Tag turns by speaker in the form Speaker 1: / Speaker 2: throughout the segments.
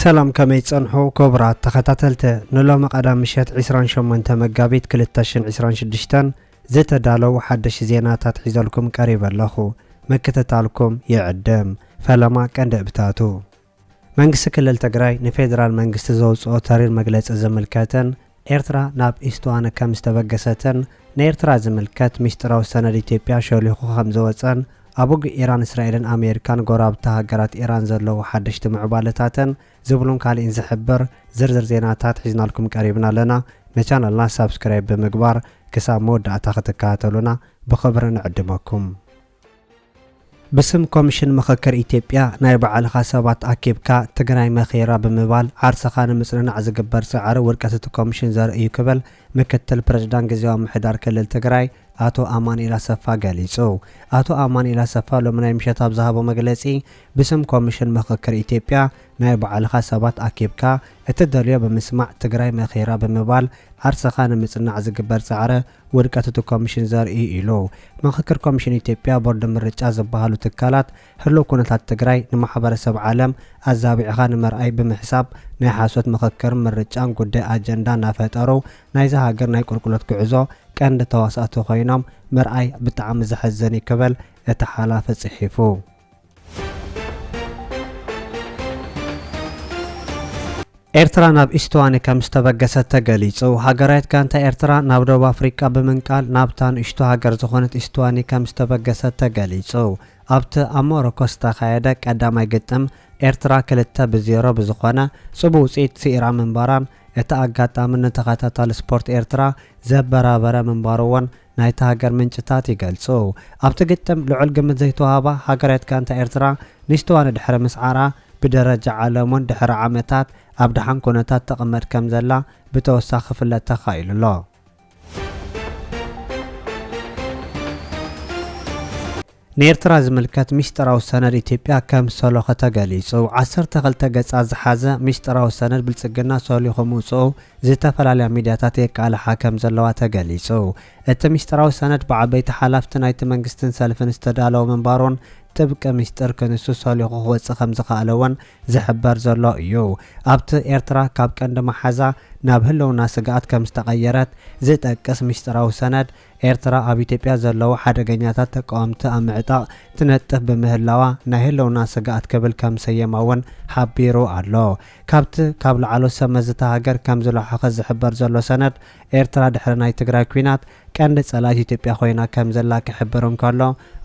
Speaker 1: ሰላም ከመይ ትጸንሑ ክቡራት ተኸታተልቲ ንሎሚ ቀዳም ምሸት 28 መጋቢት 2026 ዝተዳለዉ ሓደሽ ዜናታት ሒዘልኩም ቀሪበ ኣለኹ ምክትታልኩም ይዕድም ፈለማ ቀንዲ እብታቱ መንግስቲ ክልል ትግራይ ንፌደራል መንግስቲ ዘውጽኦ ተሪር መግለጺ ዝምልከትን ኤርትራ ናብ ኢስቱዋነ ከም ዝተበገሰትን ንኤርትራ ዝምልከት ሚስጢራዊ ሰነድ ኢትዮጵያ ሾሊኹ ከም ዝወጸን ኣብ ውግእ ኢራን እስራኤልን ኣሜሪካን ጎረባብቲ ሃገራት ኢራን ዘለዉ ሓደሽቲ ምዕባለታትን ዝብሉን ካሊእን ዝሕብር ዝርዝር ዜናታት ሒዝናልኩም ቀሪብና ኣለና ንቻነልና ሳብስክራይብ ብምግባር ክሳብ መወዳእታ ክትከታተሉና ብኽብሪ ንዕድመኩም። ብስም ኮምሽን ምኽክር ኢትዮጵያ ናይ ባዕልኻ ሰባት ኣኪብካ ትግራይ መኺራ ብምባል ዓርስኻ ንምፅንናዕ ዝግበር ፃዕሪ ውድቀት እቲ ኮምሽን ዘርኢ እዩ ክብል ምክትል ፕሬዝዳንት ግዝያዊ ምምሕዳር ክልል ትግራይ ኣቶ ኣማኑኤል ኣሰፋ ገሊፁ። ኣቶ ኣማኑኤል ኣሰፋ ሎሚ ናይ ምሸት ኣብ ዝሃቦ መግለፂ ብስም ኮምሽን ምኽክር ኢትዮጵያ ናይ ባዕልኻ ሰባት ኣኪብካ እትደልዮ ብምስማዕ ትግራይ መኺራ ብምባል ዓርስኻ ንምፅናዕ ዝግበር ፃዕሪ ውድቀት እቲ ኮሚሽን ዘርኢ እዩ ኢሉ። ምኽክር ኮሚሽን ኢትዮጵያ፣ ቦርድ ምርጫ ዝበሃሉ ትካላት ህሉው ኩነታት ትግራይ ንማሕበረሰብ ዓለም ኣዛቢዕኻ ንመርኣይ ብምሕሳብ ናይ ሓሶት ምኽክርን ምርጫን ጉዳይ ኣጀንዳ ናፈጠሩ ናይዛ ሃገር ናይ ቁልቁለት ጉዕዞ ቀንዲ ተዋሳእቲ ኮይኖም ምርኣይ ብጣዕሚ ዘሕዝን እዩ ክብል እቲ ሓላፊ ፅሒፉ። ኤርትራ ናብ ኢስቶዋኒ ከም ዝተበገሰት ተገሊጹ። ሃገራዊት ጋንታ ኤርትራ ናብ ደቡብ ኣፍሪቃ ብምንቃል ናብታ ንእሽቶ ሃገር ዝኾነት ኢስቶዋኒ ከም ዝተበገሰት ተገሊጹ። ኣብቲ ኣብ ሞሮኮ ዝተኻየደ ቀዳማይ ግጥም ኤርትራ ክልተ ብ ዜሮ ብዝኾነ ጽቡቅ ውጽኢት ስኢራ ምንባራን እቲ ኣጋጣሚ ንተኸታታሊ ስፖርት ኤርትራ ዘበራበረ ምንባሩ'ውን ናይታ ሃገር ምንጭታት ይገልጹ። ኣብቲ ግጥም ልዑል ግምት ዘይተዋህባ ሃገራዊት ጋንታ ኤርትራ ንሽተዋኒ ድሕሪ ምስዓራ፣ ብደረጃ ዓለም'ውን ድሕሪ ዓመታት ኣብ ደሓን ኩነታት ትቕመጥ ከምዘላ ብተወሳኺ ክፍለጥ ተኻኢሉ ኣሎ። ንኤርትራ ዝምልከት ሚስጥራዊ ሰነድ ኢትዮጵያ ከም ሰሎኸ ተገሊጹ። ዓሰርተ ክልተ ገጻት ዝሓዘ ሚስጥራዊ ሰነድ ብልጽግና ሰሊኹ ምውጽኡ ዝተፈላለያ ሚድያታት የቃልሓ ከም ዘለዋ ተገሊጹ። እቲ ሚስጥራዊ ሰነድ ብዓበይቲ ሓላፍቲ ናይቲ መንግስትን ሰልፍን ዝተዳለወ ምንባሩን ጥብቂ ሚስጥር ክንሱ ሰሊኹ ክወጽእ ከም ዝኸኣለ'ውን ዝሕበር ዘሎ እዩ። ኣብቲ ኤርትራ ካብ ቀንዲ መሓዛ ናብ ህልውና ስግኣት ከም ዝተቐየረት ዝጠቅስ ሚስጥራዊ ሰነድ ኤርትራ ኣብ ኢትዮጵያ ዘለዉ ሓደገኛታት ተቃወምቲ ኣብ ምዕጣቕ ትነጥፍ ብምህላዋ ናይ ህልውና ስግኣት ክብል ከም ዝሰየማ'ውን ሓቢሩ ኣሎ። ካብቲ ካብ ላዕሎት ሰብ መዚ እታ ሃገር ከም ዝለሖኸ ዝሕበር ዘሎ ሰነድ፣ ኤርትራ ድሕሪ ናይ ትግራይ ኲናት ቀንዲ ጸላኢት ኢትዮጵያ ኮይና ከም ዘላ ክሕብር እንከሎ፣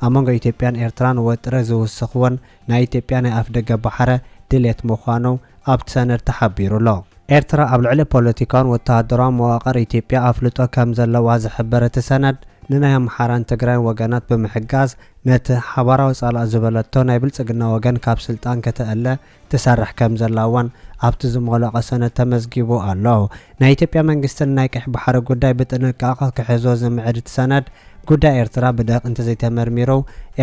Speaker 1: ኣብ መንጎ ኢትዮጵያን ኤርትራን ወጥሪ ዝውስኽ'ውን ናይ ኢትዮጵያ ናይ ኣፍደገ ባሕረ ድሌት ምዃኑ ኣብቲ ሰነድ ተሓቢሩ ኣሎ። ኤርትራ ኣብ ልዕሊ ፖለቲካውን ወተሃደራውን መዋቕር ኢትዮጵያ ኣፍልጦ ከም ዘለዋ ዝሕብር እቲ ሰነድ፣ ንናይ ኣምሓራን ትግራይን ወገናት ብምሕጋዝ ነቲ ሓባራዊ ጸላእ ዝበለቶ ናይ ብልጽግና ወገን ካብ ስልጣን ከተእለ ትሰርሕ ከም ዘላ'ውን ኣብቲ ዝሞለቐ ሰነድ ተመዝጊቡ ኣሎ። ናይ ኢትዮጵያ መንግስቲ ንናይ ቀይሕ ባሕሪ ጉዳይ ብጥንቃቐ ክሕዞ ዝምዕድ እቲ ሰነድ፣ ጉዳይ ኤርትራ ብደቂቕ እንተዘይተመርሚሩ፣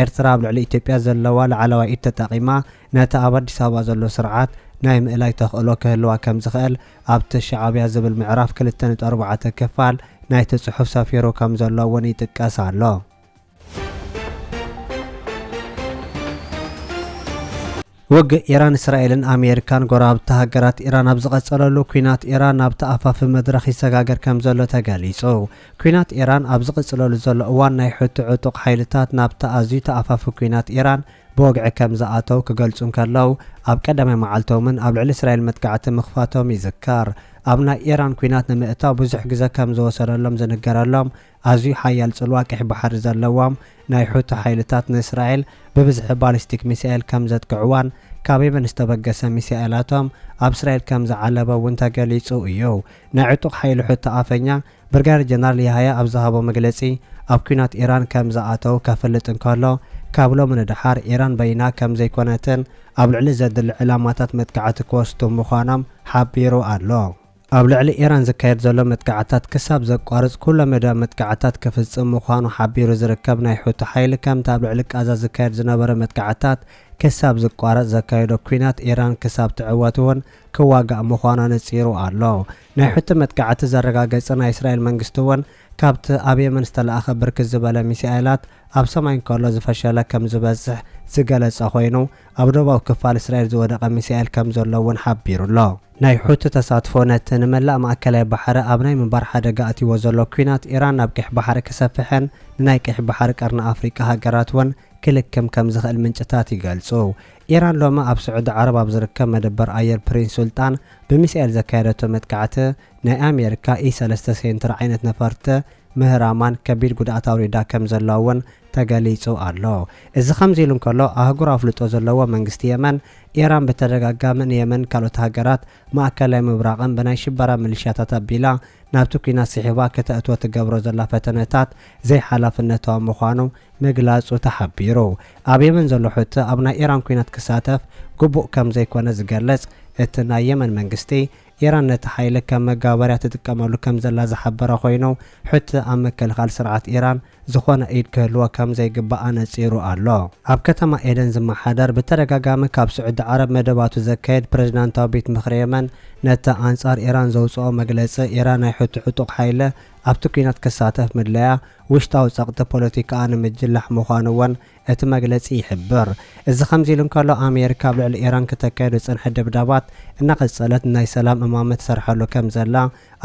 Speaker 1: ኤርትራ ኣብ ልዕሊ ኢትዮጵያ ዘለዋ ላዕለዋይ ኢድ ተጠቒማ ነቲ ኣብ ኣዲስ ኣበባ ዘሎ ስርዓት ናይ ምእላይ ተኽእሎ ክህልዋ ከምዝኽእል ኣብቲ ሻዕብያ ዝብል ምዕራፍ ክልተ ነጥቢ ኣርባዕተ ክፋል ናይቲ ጽሑፍ ሰፊሩ ከምዘሎ'ውን ይጥቀስ ኣሎ። ውግእ ኢራን እስራኤልን ኣሜሪካን ጎረባብቲ ሃገራት ኢራን ኣብ ዝቐጸለሉ ኲናት ኢራን ናብ ተኣፋፊ መድረኽ ይሰጋገር ከም ዘሎ ተገሊጹ። ኲናት ኢራን ኣብ ዝቕጽለሉ ዘሎ እዋን ናይ ሑቲ ዕጡቕ ሓይልታት ናብቲ ኣዝዩ ተኣፋፊ ኲናት ኢራን ብወግዒ ከም ዝኣተው ክገልጹ እንከለው ኣብ ቀዳማይ መዓልቶምን ኣብ ልዕሊ እስራኤል መጥቃዕቲ ምኽፋቶም ይዝከር። ኣብ ናይ ኢራን ኲናት ንምእታው ብዙሕ ግዘ ከም ዝወሰደሎም ዝንገረሎም ኣዝዩ ሓያል ጽልዋ ቀይሕ ባሕሪ ዘለዎም ናይ ሑቲ ሓይልታት ንእስራኤል ብብዝሒ ባሊስቲክ ሚሳኤል ከም ዘጥቅዕዋን ካብ የመን ዝተበገሰ ሚሳኤላቶም ኣብ እስራኤል ከም ዝዓለበ እውን ተገሊጹ እዩ። ናይ ዕጡቕ ሓይሊ ሑቲ ኣፈኛ ብርጋደር ጀነራል ያሃያ ኣብ ዝሃቦ መግለጺ ኣብ ኲናት ኢራን ከም ዝኣተው ከፍልጥ እንከሎ ካብ ሎሚ ንደሓር ኢራን በይና ከም ዘይኮነትን ኣብ ልዕሊ ዘድሊ ዕላማታት መጥቃዕቲ ክወስዱ ምዃኖም ሓቢሩ ኣሎ። ኣብ ልዕሊ ኢራን ዝካየድ ዘሎ መጥቃዕትታት ክሳብ ዘቋርጽ ኩለመዳያዊ መጥቃዕትታት ክፍጽም ምዃኑ ሓቢሩ ዝርከብ ናይ ሑቲ ሓይሊ ከምቲ ኣብ ልዕሊ ቃዛ ዝካየድ ዝነበረ መጥቃዕትታት ክሳብ ዝቋረጽ ዘካይዶ ኲናት ኢራን ክሳብ ትዕወት እውን ክዋጋእ ምዃኑ ኣነጺሩ ኣሎ። ናይ ሑቲ መጥቃዕቲ ዘረጋገጸ ናይ እስራኤል መንግስቲ እውን ካብቲ ኣብ የመን ዝተላእኸ ብርክት ዝበለ ሚሳኤላት ኣብ ሰማይ እንከሎ ዝፈሸለ ከም ዝበጽሕ ዝገለጸ ኮይኑ፣ ኣብ ደቡባዊ ክፋል እስራኤል ዝወደቐ ሚሳኤል ከም ዘሎ እውን ሓቢሩ ኣሎ። ናይ ሑቲ ተሳትፎ ነቲ ንመላእ ማእከላይ ባሕሪ ኣብ ናይ ምንባር ሓደጋ ኣእትይዎ ዘሎ ኲናት ኢራን ናብ ቀይሕ ባሕሪ ክሰፍሕን ንናይ ቀይሕ ባሕሪ ቀርኒ ኣፍሪቃ ሃገራት እውን ክልክም ከም ዝኽእል ምንጭታት ይገልጹ። ኢራን ሎሚ ኣብ ስዑዲ ዓረብ ኣብ ዝርከብ መደበር ኣየር ፕሪንስ ሱልጣን ብሚሳኤል ዘካየደቶ መጥቃዕቲ ናይ ኣሜሪካ ኢ ሰለስተ ሴንተር ዓይነት ነፈርቲ ምህራማን ከቢድ ጉድኣት ኣውሪዳ ከምዘላ እውን ተገሊፁ ኣሎ። እዚ ከምዚ ኢሉ እንከሎ ኣህጉር ኣፍልጦ ዘለዎ መንግስቲ የመን ኢራን ብተደጋጋሚ ንየመንን ካልኦት ሃገራት ማእከላይ ምብራቕን ብናይ ሽበራ ምልሻታት ኣቢላ ናብቲ ኲናት ስሒባ ክተእትዎ ትገብሮ ዘላ ፈተነታት ዘይሓላፍነታዊ ምዃኑ ምግላፁ ተሓቢሩ። ኣብ የመን ዘሎ ሑቲ ኣብ ናይ ኢራን ኲናት ክሳተፍ ግቡእ ከምዘይኮነ ዝገልፅ እቲ ናይ የመን መንግስቲ ኢራን ነቲ ሓይሊ ከም መጋበርያ ትጥቀመሉ ከም ዘላ ዝሓበረ ኾይኑ፣ ሕቲ ኣብ ምክልኻል ስርዓት ኢራን ዝኾነ ኢድ ክህልዎ ከም ዘይግባእ ኣነጺሩ ኣሎ። ኣብ ከተማ ኤደን ዝመሓደር ብተደጋጋሚ ካብ ስዑዲ ዓረብ መደባቱ ዘካይድ ፕረዚዳንታዊ ቤት ምኽሪ የመን፣ ነቲ ኣንጻር ኢራን ዘውጽኦ መግለጺ፣ ኢራን ናይ ሑቲ ዕጡቕ ሓይሊ ኣብቲ ኲናት ክሳተፍ ምድላያ፣ ውሽጣዊ ጸቕጢ ፖለቲካኣ ንምጅላሕ ምዃኑ ወን እቲ መግለጺ ይሕብር። እዚ ከምዚ ኢሉ እንከሎ፣ ኣሜሪካ ኣብ ልዕሊ ኢራን ክተካይዶ ዝጸንሐት ደብዳባት እናቐጸለት ናይ ሰላም እማመ ትሰርሓሉ ከም ዘላ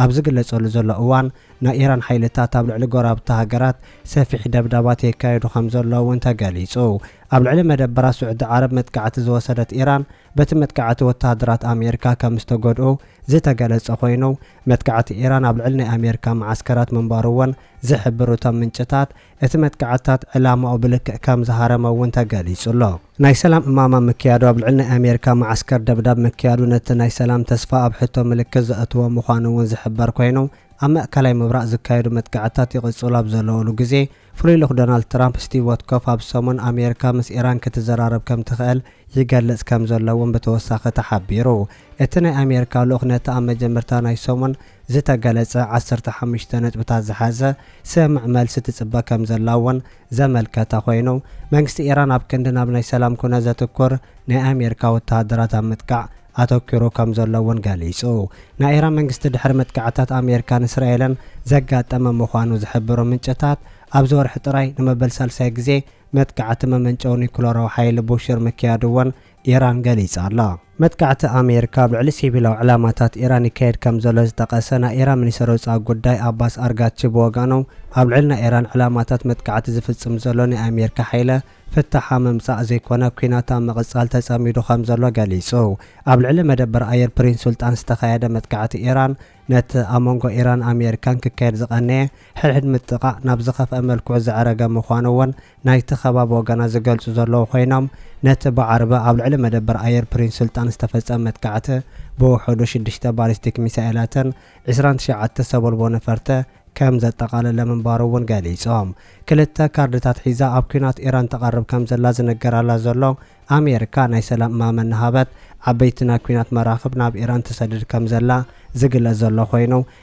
Speaker 1: ኣብ ዝግለጸሉ ዘሎ እዋን፣ ናይ ኢራን ሓይልታት ኣብ ልዕሊ ጎረባብቲ ሃገራት ሰፊሕ ደብዳባት የካይዱ ከም ዘለዉ እውን ተገሊጹ። ኣብ ልዕሊ መደበራት ስዑዲ ዓረብ መጥቃዕቲ ዝወሰደት ኢራን፣ በቲ መጥቃዕቲ ወተሃደራት ኣሜሪካ ከም ዝተጎድኡ ዝተገለጸ ኮይኑ፣ መጥቃዕቲ ኢራን ኣብ ልዕሊ ናይ ኣሜሪካ መዓስከራት ምንባሩ እውን ዝሕብሩ እቶም ምንጭታት፣ እቲ መጥቃዕትታት ዕላማኡ ብልክዕ ከም ዝሃረመ እውን ተገሊጹ ኣሎ። ናይ ሰላም እማም ኣብ ምክያዱ ኣብ ልዕሊ ናይ ኣሜሪካ መዓስከር ደብዳብ ምክያዱ ነቲ ናይ ሰላም ተስፋ ኣብ ሕቶ ምልክት ዘእትዎ ምዃኑ እውን ዝሕበር ኮይኑ ኣብ ማእከላይ ምብራቕ ዝካየዱ መጥቃዕትታት ይቕጽሉ ኣብ ዘለዉሉ ግዜ ፍሉይ ልኡኽ ዶናልድ ትራምፕ ስቲቭ ወትኮፍ ኣብ ሰሙን ኣሜሪካ ምስ ኢራን ክትዘራረብ ከም ትኽእል ይገልጽ ከም ዘሎ እውን ብተወሳኺ ተሓቢሩ። እቲ ናይ ኣሜሪካ ልኡኽ ነቲ ኣብ መጀመርታ ናይ ሰሙን ዝተገለፀ ዓሰርተ ሓሙሽተ ነጥብታት ዝሓዘ ስምምዕ መልሲ ትፅበ ከምዘላ እውን ዘመልከተ ኮይኑ፣ መንግስቲ ኢራን ኣብ ክንዲ ናብ ናይ ሰላም ኩነት ዘትኩር ናይ ኣሜሪካ ወተሃደራት ኣብ ምጥቃዕ ኣተኲሩ ከምዘሎ እውን ገሊፁ። ናይ ኢራን መንግስቲ ድሕሪ መጥቃዕትታት ኣሜሪካን እስራኤልን ዘጋጠመ ምዃኑ ዝሕብሩ ምንጭታት፣ ኣብዚ ወርሒ ጥራይ ንመበል ሳልሳይ ግዜ መጥቃዕቲ መመንጨዊ ኒኩለራዊ ሓይሊ ቡሽር ምክያዱ እውን ኢራን ገሊጻ ኣላ። መጥቃዕቲ ኣሜሪካ ኣብ ልዕሊ ሲቪላዊ ዕላማታት ኢራን ይካየድ ከም ዘሎ ዝጠቐሰ ናይ ኢራን ሚኒስተር ወጻኢ ጉዳይ ኣባስ ኣርጋቺ ብወገኖም ኣብ ልዕሊ ናይ ኢራን ዕላማታት መጥቃዕቲ ዝፍጽም ዘሎ ናይ ኣሜሪካ ሓይለ ፍታሕ ኣብ ምምጻእ ዘይኮነ ኲናት ኣብ ምቕጻል ተጸሚዱ ከም ዘሎ ገሊጹ። ኣብ ልዕሊ መደበር ኣየር ፕሪንስ ሱልጣን ዝተኻየደ መጥቃዕቲ ኢራን ነቲ ኣብ መንጎ ኢራን ኣሜሪካን ክካየድ ዝቐነየ ሕድሕድ ምጥቓዕ ናብ ዝኸፍኣ መልክዑ ዘዕረገ ምዃኑ እውን ናይቲ ከባቢ ወገናት ዝገልጹ ዘለዉ ኮይኖም፣ ነቲ ብዓርቢ ኣብ ልዕሊ መደበር ኣየር ፕሪንስ ሱልጣን ዝተፈጸመ መጥቃዕቲ ብውሑዱ ሽዱሽተ ባሊስቲክ ሚሳኤላትን ዕስራን ትሽዓተ ሰቦልቦ ነፈርተ ከም ዘጠቓለለ ምንባሩ'ውን ገሊጾም። ክልተ ካርድታት ሒዛ ኣብ ኲናት ኢራን ትቐርብ ከም ዘላ ዝንገራላ ዘሎ ኣሜሪካ፣ ናይ ሰላም እማመ እናሃበት ዓበይቲ ናይ ኲናት መራኽብ ናብ ኢራን ትሰድድ ከም ዘላ ዝግለጽ ዘሎ ኮይኑ፣